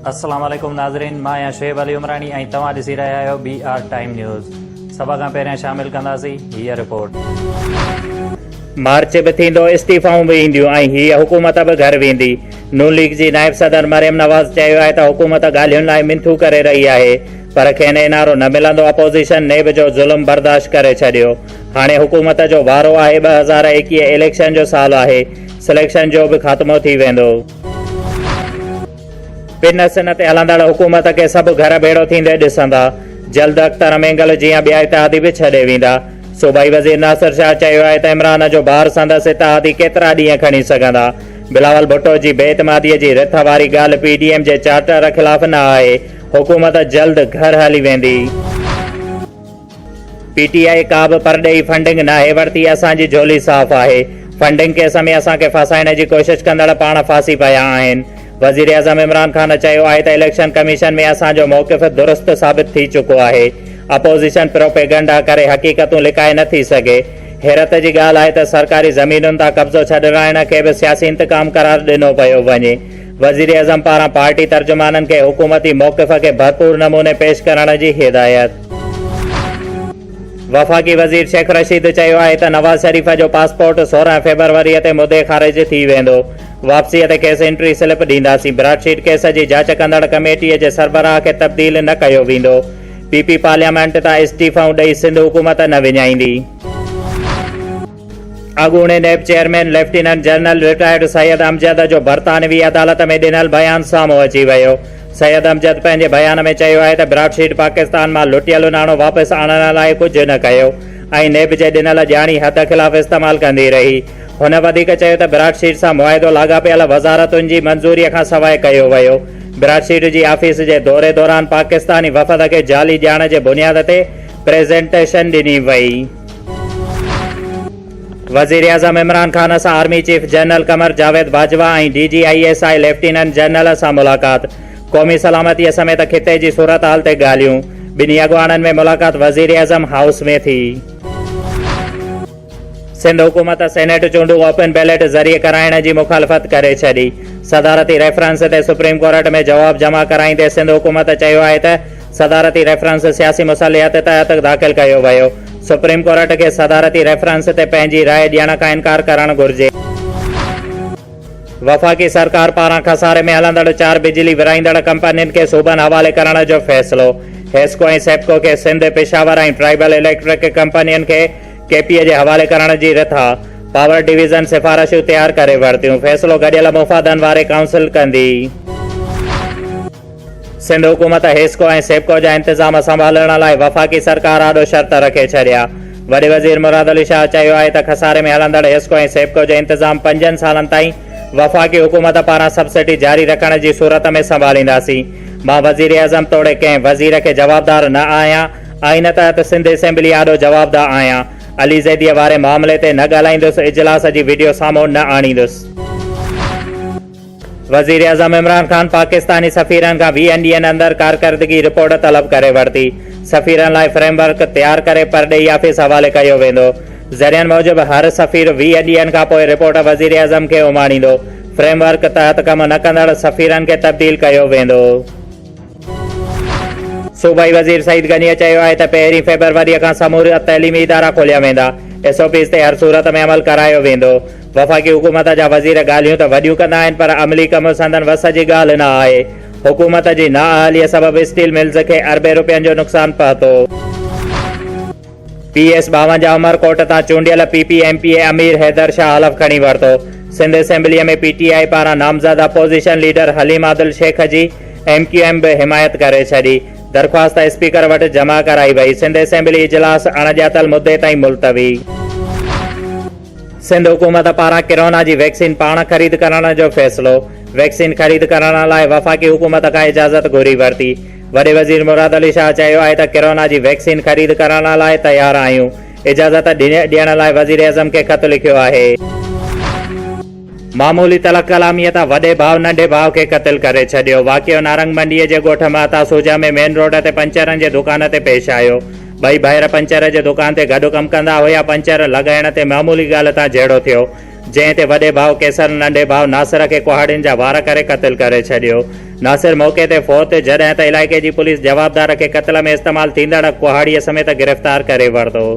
السلام عليڪم ناظرين مان آهيان شعيب علي عمراڻي ۽ توهان ڏسي رهيا آهيو بي آر ٽائيم نيوز سڀ کان پهريان شامل ڪنداسين هي رپورٽ مارچ به ٿيندو استعيفائون به اينديون ۽ هي حڪومت به گهر ويندي نون ليگ جي نائب صدر مريم نواز چيو آهي ته حڪومت ڳالهين لاء منٿون ڪري رهي آهي پر کين انارو نه ملندو اپوزيشن نيب جو ظلم برداشت ڪري ڇڏيو هاڻي حڪومت جو وارو آهي ٻه هزار ايڪيهه اليڪشن جو سال آهي سليڪشن جو به خاتمو ٿي ويندو. پن سن تي هلندڙ حڪومت کي سڀ گهر ڀيڙو ٿيندي ڏسندا جلد اختر مينگل جيان ٻيا اتحادي به ڇڏي ويندا صوبائي وزير ناصر شاهه چيو آهي ته عمران جو بار سندس اتحادي ڪيترا ڏينهن کڻي سگهندا بلاول ڀٽو جي بي اعتمادي جي رٿ واري ڳالهه پي ڊي ايم جي چارٽر خلاف نه آهي حڪومت جلد گهر هلي ويندي. پي ٽي آء ڪا به پرڏيهي فنڊنگ ناهي ورتي اسان جي جهولي صاف آهي فنڊنگ ڪيس ۾ اسان کي ڦاسائڻ جي ڪوشش ڪندڙ پاڻ ڦاسي پيا آهن وزيراعظم عمران خان چيو آهي ته اليڪشن ڪميشن ۾ اسان جو موقف درست ثابت ٿي چڪو آهي اپوزيشن پروپيگنڊا ڪري حقيقتون لڪائي نه ٿي سگهي حيرت جي ڳالهه آهي ته سرڪاري زمينن تان قبضو ڇڏرائڻ کي به سياسي انتقام قرار ڏنو پيو وڃي وزيراعظم پاران پارٽي ترجمانن کي حڪومتي موقف کي ڀرپور نموني پيش ڪرڻ جي هدايت. وفاقي وزير شيخ رشيد چيو آهي ته نواز شريف جو پاسپورٽ سورهن فيبروري تي مدي خارج ٿي ويندو، واپسي تي کيس انٽري سلپ ڏينداسين، براڊ شيٽ ڪيس جي جاچ ڪندڙ ڪميٽي جي سربراهه کي تبديل نه ڪيو ويندو، پي پي پارليامينٽ تان استعيفائون ڏئي سنڌ حڪومت نه وڃائيندي. اڳوڻي NAB chairman lieutenant general retired Syed Amjad جو برطانوي عدالت ۾ ڏنل بيان سامهون اچي ويو. سيد امجد پنهنجي بيان ۾ چيو آهي ته براڊ شيٽ پاڪستان مان لٽيل ناڻو واپس آڻڻ لاء ڪجهه نه ڪيو ۽ نيب جي ڏنل ڄاڻي حد خلاف استعمال ڪندي رهي. هن وڌيڪ چيو ته براڊ شيٽ سان معاهدو لاڳاپيل وزارتن جي منظوري کان سواء ڪيو ويو. براڊ شيٽ جي آفيس جي دوري دوران پاڪستاني وفد کي جعلي ڄاڻ جي بنياد تي پريزنٽيشن ڏني وئي. وزيراعظم عمران خان سان army chief general Qamar Javed Bajwa ۽ D G I S I lieutenant general سان ملاقات، قومي سلامتي سميت خطي جي صورتحال تي ڳالهيون، ٻنهي اڳواڻن ۾ ملاقات وزيراعظم هائوس ۾ ٿي. سنڌ حڪومت سينيٽ چونڊون اوپن بيلٽ ذريعي ڪرائڻ جي مخالفت ڪري ڇڏي، صدارتي ريفرنس تي سپريم ڪورٽ ۾ جواب جمع ڪرائيندي سنڌ حڪومت چيو آهي ته صدارتي ريفرنس سياسي مصالحت تحت داخل ڪيو ويو، سپريم ڪورٽ کي صدارتي ريفرنس تي پنهنجي راء ڏيڻ کان انڪار ڪرڻ گهرجي. وفاقي سرڪار پاران خساري ۾ هلندڙ چار بجلي ورهائيندڙ ڪمپنين کي صوبن حوالي ڪرڻ جو فيصلو، حيسڪو ۽ سيپڪو کي سنڌ، پشاور ۽ ٽرائيبل اليڪٽرڪ ڪمپنين کي ڪي پي اي جي حوالي ڪرڻ جي رٿا، پاور ڊويزن سفارشون تيار ڪري ورتيون، فيصلو گڏيل مفادن واري ڪائونسل ڪندي. سنڌ حڪومت حيسڪو ۽ سيپڪو جا انتظام سنڀالڻ لاء وفاقي سرڪار آڏو شرط رکي ڇڏيا. وڏي وزير مراد علي شاهه چيو آهي ته خساري ۾ هلندڙ حيسڪو ۽ سيپڪو جو انتظام پنجن سالن تائين وفاقي حڪومت پاران سبسڊي جاري رکڻ جي صورت ۾ سنڀالينداسين. مان وزيراعظم توڙي ڪنهن وزير کي جوابدار نه آهيان. آئين تحت سنڌ اسيمبلي آڏو جوابده آهيان. علي زيديء واري معاملي تي نه ڳالهائيندس، اجلاس جي وڊيو سامهون نه آڻيندس. وزيراعظم عمران خان پاڪستاني سفيرن کان ويهن ڏينهن اندر ڪارڪردگي رپورٽ طلب ڪري ورتي، سفيرن لاء فريم ورڪ تيار ڪري پرڏيهي آفيس حوالي ڪيو ويندو، ذريعن موجب هر سفير ويهه ڏينهن کانپوء رپورٽ وزيراعظم کي اماڻيندو، فريم ورڪ تحت ڪم نه ڪندڙ سفيرن کي تبديل ڪيو ويندو. صوبائي وزير سعيد غنيء چيو آهي ته پهرين فيبروريء کان سمورا تعليمي ادارا کوليا ويندا، ايس او پيز تي هر صورت ۾ عمل ڪرايو ويندو، وفاقي حڪومت جا وزير ڳالهيون ته وڏيون ڪندا آهن پر عملي ڪم سندن وس جي ڳالهه نه آهي، حڪومت جي نااهليء سبب اسٽيل ملز کي اربين رپين جو نقصان پهتو. پي ايس ٻاونجاهه عمرڪوٽ تان چونڊيل P P M P A Amir Haider Shah حلف کڻي ورتو، سنڌ اسيمبليء ۾ پي ٽي آء پاران نامزد اپوزيشن ليڊر حليم عادل شيخ جي ايم ڪيو ايم به حمايت ڪري ڇڏي، درخواست اسپيڪر وٽ جمع ڪرائي وئي، سنڌ اسيمبلي اجلاس اڻڄاتل مدي تائين ملتوي. سنڌ حڪومت پاران ڪرونا جي ويڪسين پاڻ خريد ڪرڻ جو فيصلو، ويڪسين خريد ڪرڻ لاء وفاقي حڪومت کان اجازت گهري ورتي، وڏي وزير مراد علي شاهه چيو آهي ته ڪرونا جي ويڪسين خريد ڪرڻ لاء تيار آهيون، اجازت ڏيڻ لاء وزيراعظم کي خط لکيو آهي. معمولي تلخ ڪلاميء تان وڏي ڀاء ننڍي ڀاء کي قتل ڪري ڇڏيو. واقعو نارنگ منڊيء جي ڳوٺ مهتا سوجا ۾ مين روڊ تي پنچرن جي دڪان تي پيش آيو. ٻئي ڀائر پنچر جي دڪان تي گڏ ڪم ڪندا هيا، پنچر لڳائڻ تي معمولي ڳالهه تان جهيڙو ٿيو، جنهن تي وڏي ڀاء ڪيسر ننڍي ڀاء ناصر کي ڪهاڙين جا وار ڪري قتل ڪري ڇڏيو. ناصر موقعي تي فوت، جڏهن ته علائقي جي پوليس جوابدار کي قتل ۾ استعمال ٿيندڙ ڪهاڙيء سميت گرفتار ڪري ورتو.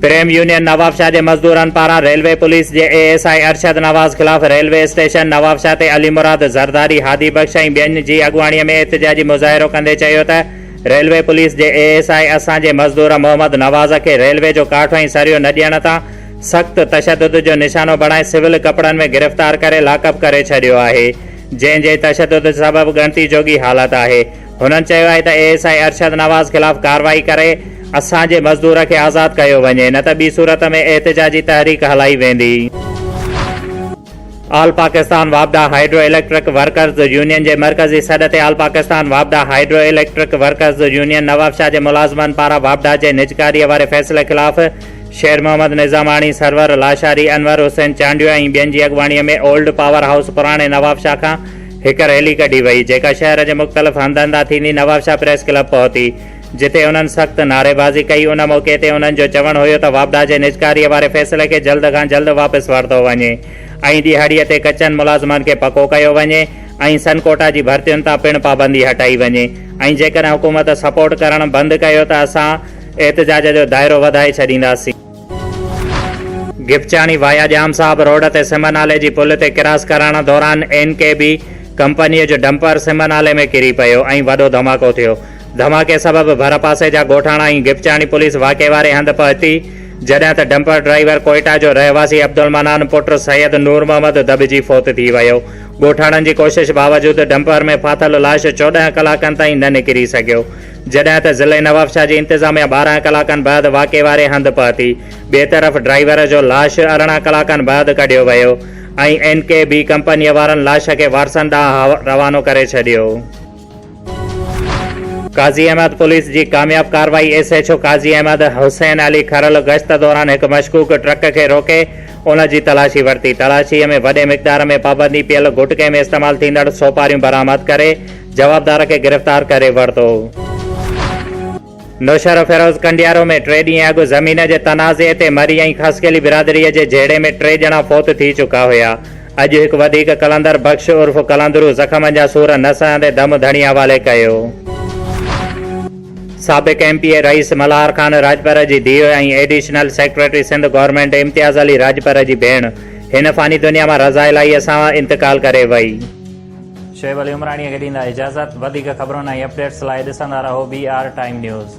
ڪريم يونين نوابشاهه جي مزدورن پاران ريلوي پوليس جي A S I Arshad Nawaz خلاف ريلوي اسٽيشن نوابشاهه تي علي مراد زرداري، هادي بخش ۽ ٻين جي اڳواڻي ۾ احتجاجي مظاهرو ڪندي چيو ته ريلوي پوليس جي اي ايس آء اسان جي مزدور محمد نواز کي ريلوي جو ڪاٺ ۽ سريو نه ڏيڻ تان سخت تشدد جو نشانو بڻائي سول ڪپڙن ۾ گرفتار ڪري لاڪ اپ ڪري ڇڏيو آهي جنهن جي تشدد سبب ڳڻتي جوڳي حالت آهي هنن چيو آهي ته A S I Arshad Nawaz خلاف ڪارروائي ڪري اسان جي مزدور کي آزاد ڪيو وڃي نه ته ٻي صورت ۾ احتجاجي تحريڪ هلائي ويندي. آل پاڪستان واپڊا هائيڊرو اليڪٽرڪ ورڪرز يونين جي مرڪزي سڏ تي آل پاڪستان واپڊا hydro electric workers union Nawabshah جي ملازمن پاران واپڊا جي نجڪاري واري فيصلي خلاف شير محمد نظاماڻي، سرور لاشاري، انور حسين چانڊيو ۽ ٻين جي اڳواڻي ۾ اولڊ پاور هائوس پراڻي نوابشاهه کان هڪ ريلي ڪڍي وئي، جيڪا شهر جي مختلف هنڌن تان ٿيندي نوابشاهه پريس ڪلب پهتي، جتي انهن سخت نعريبازي ڪئي، ان موقعي تي انهن جو چوڻ هيو ته واپڊا جي نجڪاريء واري فيصلي کي جلد کان جلد واپس ورتو وڃي ۽ ڏهاڙيء تي ڪچن ملازمن کي پڪو ڪيو وڃي ۽ سن ڪوٽا جي ڀرتين تان پڻ پابندي هٽائي وڃي ۽ جيڪڏهن حڪومت سپورٽ ڪرڻ بند ڪيو ته اسان احتجاج جو دائرو وڌائي ڇڏينداسين. گپچاڻي وايا ڄام صاحب روڊ تي سم نالي جي پل تي ڪراس ڪرڻ دوران اين ڪي بي ڪمپنيء جو ڊمپر سم نالي ۾ ڪري پيو ۽ وڏو ڌماڪو ٿيو. ڌماڪي سبب ڀرپاسي جا ڳوٺاڻا ۽ گپچاڻي پوليس واقعي واري هنڌ پهتي، جڏهن ته ڊمپر ڊرائيور ڪوئيٽا جو رهواسي عبدالمنان پٽ سيد نورمحمد دٻجي فوت ٿي ويو. ڳوٺاڻن جي ڪوشش باوجود ڊمپر ۾ ڦاٿل لاش چوڏهن ڪلاڪن تائين نه نڪري سگهيو. جڏهن ته ضلعي نوابشاهه جي انتظاميه ٻارهن ڪلاڪن بعد واقعي واري هنڌ پهتي. ٻئي طرف ڊرائيور جو لاش ارڙهن ڪلاڪن بعد ڪڍيو ويو ۽ اين ڪي بي ڪمپنيء وارن لاش کي وارثن ڏانهن روانو ڪري ڇڏيو. قاضي احمد پوليس جي ڪامياب ڪارروائي S H O Qazi Ahmed Hussain Ali Kharal گشت دوران هڪ مشڪوڪ ٽرڪ کي روڪي ان جي تلاشي ورتي. تلاشيء ۾ وڏي مقدار ۾ پابندي پيل گٽڪي ۾ استعمال ٿيندڙ سوپاريون برآمد ڪري جوابدار کي گرفتار ڪري ورتو. نوشهروفيروز ڪنڊيارو ۾ ٽي ڏينهن اڳ زمين جي تنازعي تي مري ۽ خاصخيلي برادري جي جهيڙي ۾ ٽي ڄڻا فوت ٿي چڪا هيا. اڄ هڪ وڌيڪ قلندر بخش عرف قلندرو زخمن جا سور نه سهندي دم ڌڻي حوالي ڪيو. سابق M P A Rais Malhar Khan Rajpar جي ڌيء ۽ additional secretary Sindh government Imtiaz Ali Rajpar جي ڀيڻ هن فاني دنيا مان رضا الاهيء سان انتقال ڪري وئي. شعيب علي عمراڻي کي ڏيندا اجازت وڌيڪ خبرن ۽ اپڊيٽس لاء ڏسندا رهو بي آر ٽائيم نيوز.